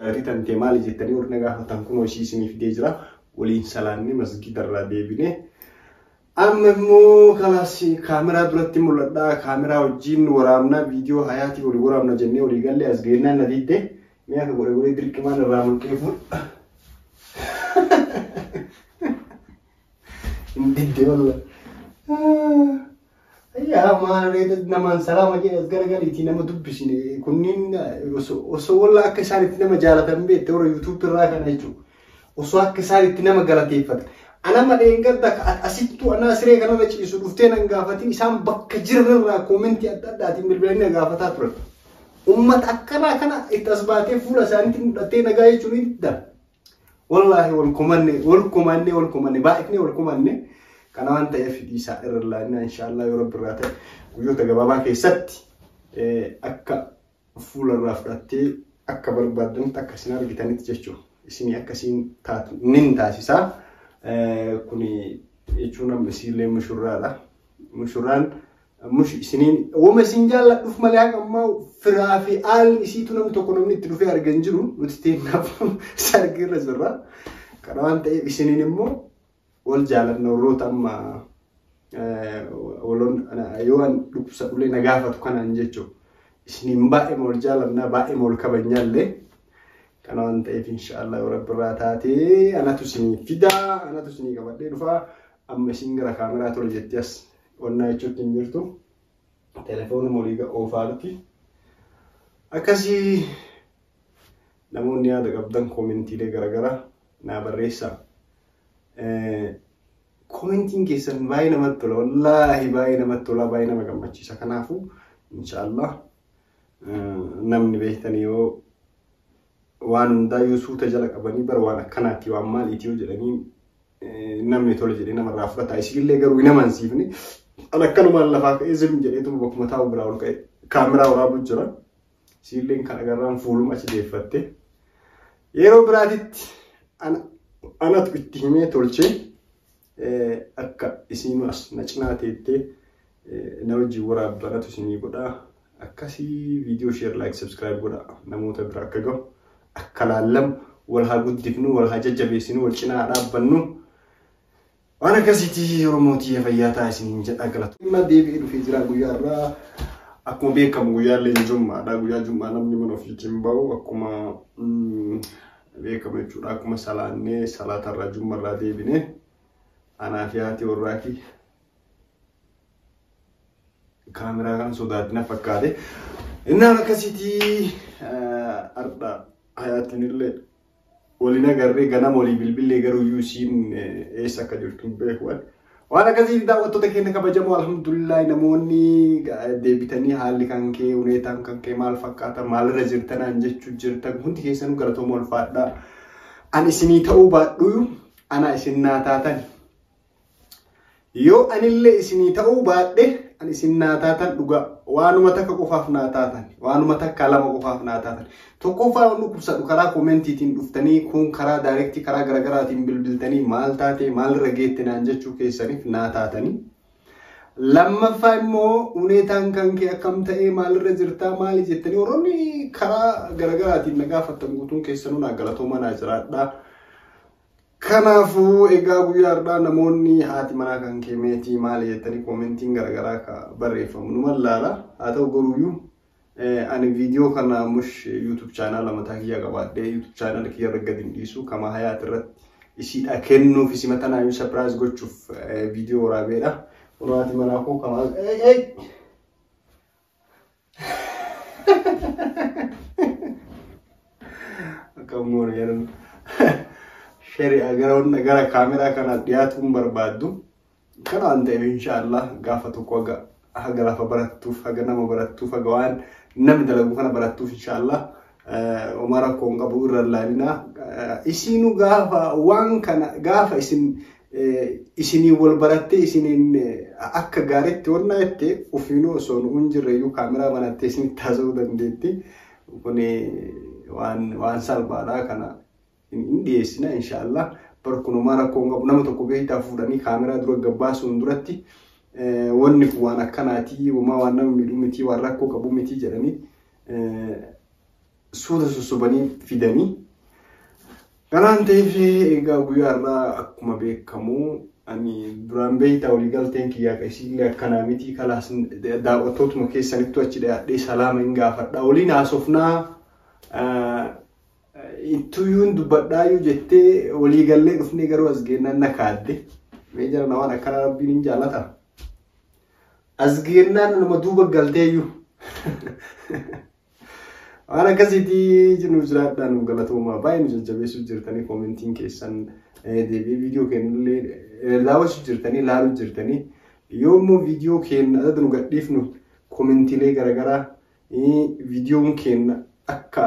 Jaartii tantee maali jettanii warri na gaafatan kunoo ishii isinii fidee jira. Waliin salaannee masgiidarraa deebinee. Amma immoo kalaas kaameraa duratti mul'adhaa kaameraa wajjin waraabnaa viidiyoo hayaatii walii waraabna jennee walii gallee as geennaan na diddee mee akka godhe godhee dirqimaan irraa mulqee fuudha. Hin diddee wallah. Yaa maal reeta namaan salaama jedhe as garagaliitii nama dubbisine kunniin osoo- osoo walla akka isaan itti nama jaalatan beekte warra yuutuub irraa kana jechuudha. Osoo akka isaan itti nama galateeffatan. Anama dheengadda ka- at- asittuu anaa siree kanarra ciisu dhuftee nan gaafatin isaan bakka jiran irraa koomentii adda addaatiin bilbilanii na gaafataa turan. Uummata akkanaa kana itti as baatee fuula isaaniitti mul'attee nagaa jechuun ni didda. Wallaahi wal kumanne wal kumanne wal kumanne baay'ifne wal kumanne kana waan ta'eef dhiisaa irra laannaa inshaallah yoo rabbi irraa ta'e guyyoota gabaabaa keessatti akka fuula irraa fudhattee akka barbaadanitti akka isin argitanitti jechuudha. Isin akkasiin taatu nin taasisaa kuni jechuun amma isiillee mushurraadha. Mushurraan Ammush isiniin woma isin jaalladhuuf malee haqa ammaa firaa fi aal isiitu namni tokko namni itti dhufee argan jiru nuti teennaaf sargii irra jirra. Kana waan ta'eef isiniin immoo wal jaalanna warroota amma waloon yoo waan dhukkubsa dhulee na gaafatu kanaan jechuudha. Isiniin baay'ee wal jaalannaa baay'ee wal kabajnaa illee. Kana waan ta'eef inshaallah yoo rabbi irraa taatee anatu isinii fidaa anatu isinii qabadhee dhufaa amma isin gara kaameraa ture jettee as Onnaa jechuutti hin jirtu. Telefoonuma olii oofaa jirti. Akkasii namoonni yaada qabdan koomentiilee garaagaraa naa barreessaa. Koomentiin keessan baay'ee namatti tola. Wallaahi baay'ee namatti tola. Baay'ee nama gammachiisa. Kanaafuu inshaallah namni beektan yoo waan hundaa yoo suuta jala qabanii bara waan akkanaatti waan maaliiti yoo jedhanii namni tole jedhee namarraa fudhata isiillee garuu hin amansiifne an akkanumaan lafaa ka'ee zim jedheetuma bakkuma taa'u biraa ol ka'e kaameraa waraabuu jira isiilleen kan agarraan fuuluma achi deeffatte yeroo biraatitti anatu itti himee tolchee akka isiinu as na cinaa teettee na wajjin waraab baratu isinii godha akkasii viidiyoo sheer laayik sabskiraayib godha namoota bira akka gahu akka laallamu wal haa guddifnu wal haa jajjabeessinu wal cinaa haa dhaabbannu waan akkasiitii yeroo mootii fayyaa ta'a isiniin jedha galatu. Dhimma deebi'ee dhufee jira guyyaa irraa akkuma beekamu guyyaa illee jummaadha guyyaa jummaa namni mana ofiitiin bahu akkuma beekamu jechuudha akkuma salaannee salaatarraa jummarraa deebinee anaa fi haati warraati Kaameraa kana sodaatti na fakkaate. Innaan akkasitii har'a hayaatiin illee waliin agarree ganama walii bilbilee garuu iyyuu isiin eessa akka jirtu hin beeku. Waan akkasii daawwattoota keenya kabajamoo alhamdulillahi namoonni deebitanii haalli kan kee huneetaan kan kee maal fakkaata maalirra jirtanaan jechuu jirtan hundi keessanuu galatooma ulfaadhaa. Ani isinii ta'uu baadhuu anaa isin naa taatan Yoo anillee isinii ta'uu baadhe an isin naa taatan dhugaa waanuma takka qofaaf naa taatan waanuma takka lama qofaaf naa taatan tokkoffaa waan dhukkubsadhu karaa koomentiitiin dhuftanii kun karaa daayirektii karaa garaagaraatiin bilbiltanii maal taatee maalirra geette naan jechuu keessaniif naa taatanii. Lammaffaa immoo huneetaan kan kee akkam ta'ee maalirra jirtaa maali jettanii warroonni karaa garaagaraatiin na gaafattan guutuun keessanuu naa galatoomaa naa jiraadhaa. Kanaafuu egaa guyyaa har'aa namoonni haati manaa kan kee meetii maali jettanii koomentiin garaagaraa akka barreeffamu nu mallaala. Haa ta'u garuuyyuu ani viidiyoo kana mush yuutuub chaanaala mataa kiyyaa qabaadhee yuutuub chaanaala kiyya irra gadi hin dhiisu kama hayaat irratti isiidha kennuuf isi matanaayyuu sapiraayiz gochuuf viidiyoo waraabeedha. Kun haati manaa koo kama. Akka immoo yeroo shari'a gara hunda gara kaameraa kana dhiyaatuun barbaaddu kana waan ta'eef inshaallah gaafa tokko haga haga lafa barattuuf haga nama barattuuf haga waan namni dalagu kana barattuuf inshaallah Homaa rakkoo hin qabu irra ilaalina. Isiinu gaafa waan kana gaafa isin isinii wal barattee isiniin akka gaariitti wannaa jettee ofiinuu osoo nu hin jirre iyyuu kaameraa banattee isinitti haasa'uu dandeetti. Kun waan salphaadha kana. hin dhiyeessina inshaallah bar kunumaa rakkoo hin qabu nama tokko beektaa fuudhanii kaameraa dura gabbaasuun duratti wanni kun waan akkanaatii wamaa waan nama miidhuu mitii waan rakkoo qabu mitii jedhanii suuta susubanii fidanii kanaan ta'eef egaa guyyaa irraa akkuma beekamu ani duraan beektaa walii galteen kiyyaa qeesiillee akkanaa mitii kalaas daawwattootuma keessanittu achi dhiyaadhee salaama hin gaafadha waliin haasofnaa Ittuyuun dubbadhaayyuu jettee walii gallee dhufnee garuu as geennaan na kaadde. Mee jara na waan akkanaa rabbiin hin jaallata. As geennaan nama duuba galteeyyuu. Waan akkasiitii jiruuf jiraadhaa nu galatoomaa baay'ee nu jajjabeessuu jirtanii koomentiin keessan deebi'ee viidiyoo keenyallee daawwachuu jirtanii ilaaluu jirtanii yoo immoo viidiyoo keenya adda nu gadhiifnu koomentiilee garaagaraa viidiyoon keenya akka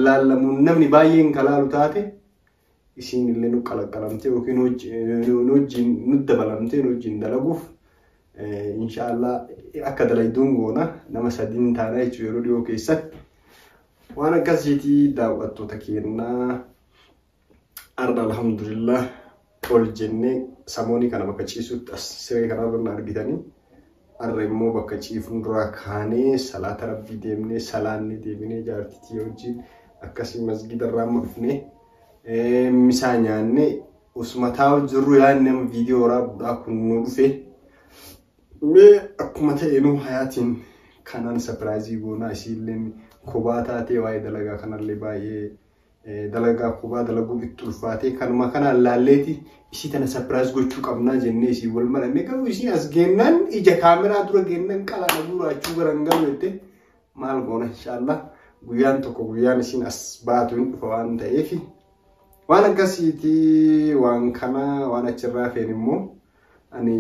laallamu namni baay'een ka laalu taate isiin illee nu qalaqqalamtee yookiin wajjin nu dabalamtee nu wajjin dalaguuf inshaallah akka dalayduun goona nama sadiin taana jechuudha yeroo dhiyoo keessatti waan akkasiitii daawwattoota keennaa. Arra alhamdulillah ol jennee samoonii kana bakka ciisutti as siree kanarra na argitanii arra immoo bakka ciifnu duraa kaanee salaata rabbii deemnee salaannee deebinee jaartitii wajjin akkasii masgiida irraa amma dhufnee misaa nyaannee osuma taa'u jirru yaadni amma viidiyoo waraabuudhaa kun nu dhufe mee akkuma ta'e nu hayaatiin kanaan sapiraayizii goonaa isiilleen kobaa taatee waa'ee dalagaa kanallee baay'ee dalagaa kubaa dalaguun itti ulfaatee kanuma kanaan laalleeti isii tana sapiraayis gochuu qabnaa jennee isii wal maranne garuu isii as geennaan ija kaameraa dura geennaan qalaa dhabuu raachuu garan galu jette maal goona inshaallah guyyaan tokko guyyaan isiin as baatu hin dhufa waan ta'eef waan akkasiiti waan kana waan achirraa feen immoo ani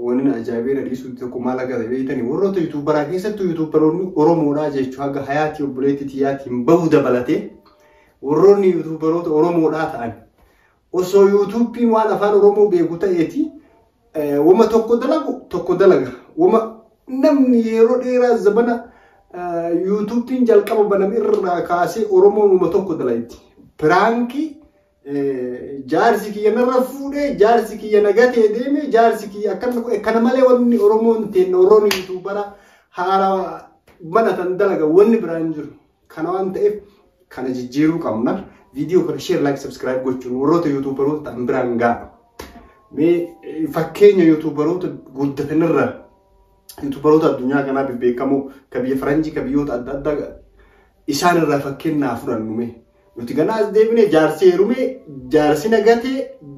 Wanni na ajaa'ibee na dhiisuutti tokko maal akka ta'e beektanii warroota yuutuubaraa keessattuu yuutuubaroonni Oromoodhaa jechuun haga hayaatii obboleetti tiyyaatiin bahu dabalatee warroonni yuutuubaroota Oromoodhaa ta'an osoo yuutuubiin waan afaan Oromoo beeku ta'eeti wama tokko dalagu tokko dalaga wama namni yeroo dheeraa zabana yuutuubiin jalqaba baname irraa kaasee Oromoon wama tokko dalagdi piraankii jaarsi kiyya narra fuudhee jaarsi kiyya na gatee deeme jaarsi kiyya akkana godhe kana malee wanni oromoon teenna warroonni yuutuubara haarawa mana tan dalaga wanni biraa hin jiru kana waan ta'eef kana jijjiiruu qabna viidiyoo kana sheer laayik sabskiraayib gochuun warroota yuutuubaroota ta'an biraan ga'a mee fakkeenya yuutuubaroota guddatanirra yuutuubaroota addunyaa kanaa bebbeekamoo ka biyya faranjii ka biyyoota adda addaa isaanirraa fakkeenyaa fudhannu mee Nuti ganaa as deebine jaarsi heerume, jaarsi na gate,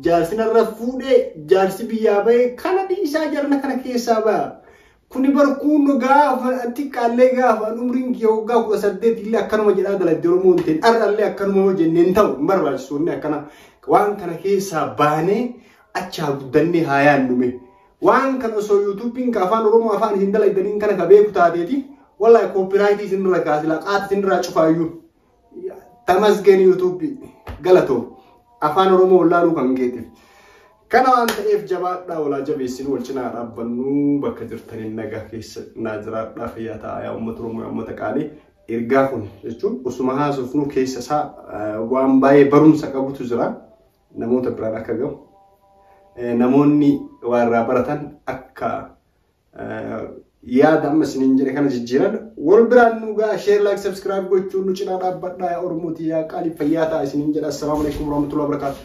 jaarsi narra fuudhe, jaarsi biyyaa bahe kana dhiisaa jarana kana keessaa baha. Kuni barkuun gaafa xiqqaallee gaafa umriin kee waggaa kudha saddeet illee akkanuma jedhaa dalagde Oromoo hin ta'in har'allee akkanuma yoo jennee hin ta'u hin barbaachisu inni akkana waan kana keessaa baanee achi haa guddannee haa yaannume. Waan kana osoo yuutuubiin ka afaan Oromoo afaan isin dalagdaniin kana ka beeku taateeti wallahi koopiraayitii isinirra kaasila qaata isinirraa cufaayyuu. Tamasgeen YouTube galatoo afaan Oromoo wallaaluu kan keetiif. Kana waan ta'eef jabaadhaa walaa jabeessin wal cinaa dhaabbannuu bakka jirtaniin nagaa keessa naa jiraadhaa fayyaa ta'aa yaa uummata Oromoo yaa uummata qaalii ergaa kun jechuun osuma haasofnuu keessa isaa waan baay'ee barumsa qabutu jira namoota biraan akka gahu namoonni waarraa baratan akka yaada amma isiniin jedhe kana jijjiiran wal biraan nu ga'a sheer laayik sabskiraayib gochuun nu cinaa dhaabbadhaa yaa oromootii yaa qaalii fayyaa ta'a isiniin jedha assalaamu alaikum warahmatullahi wabarakatuh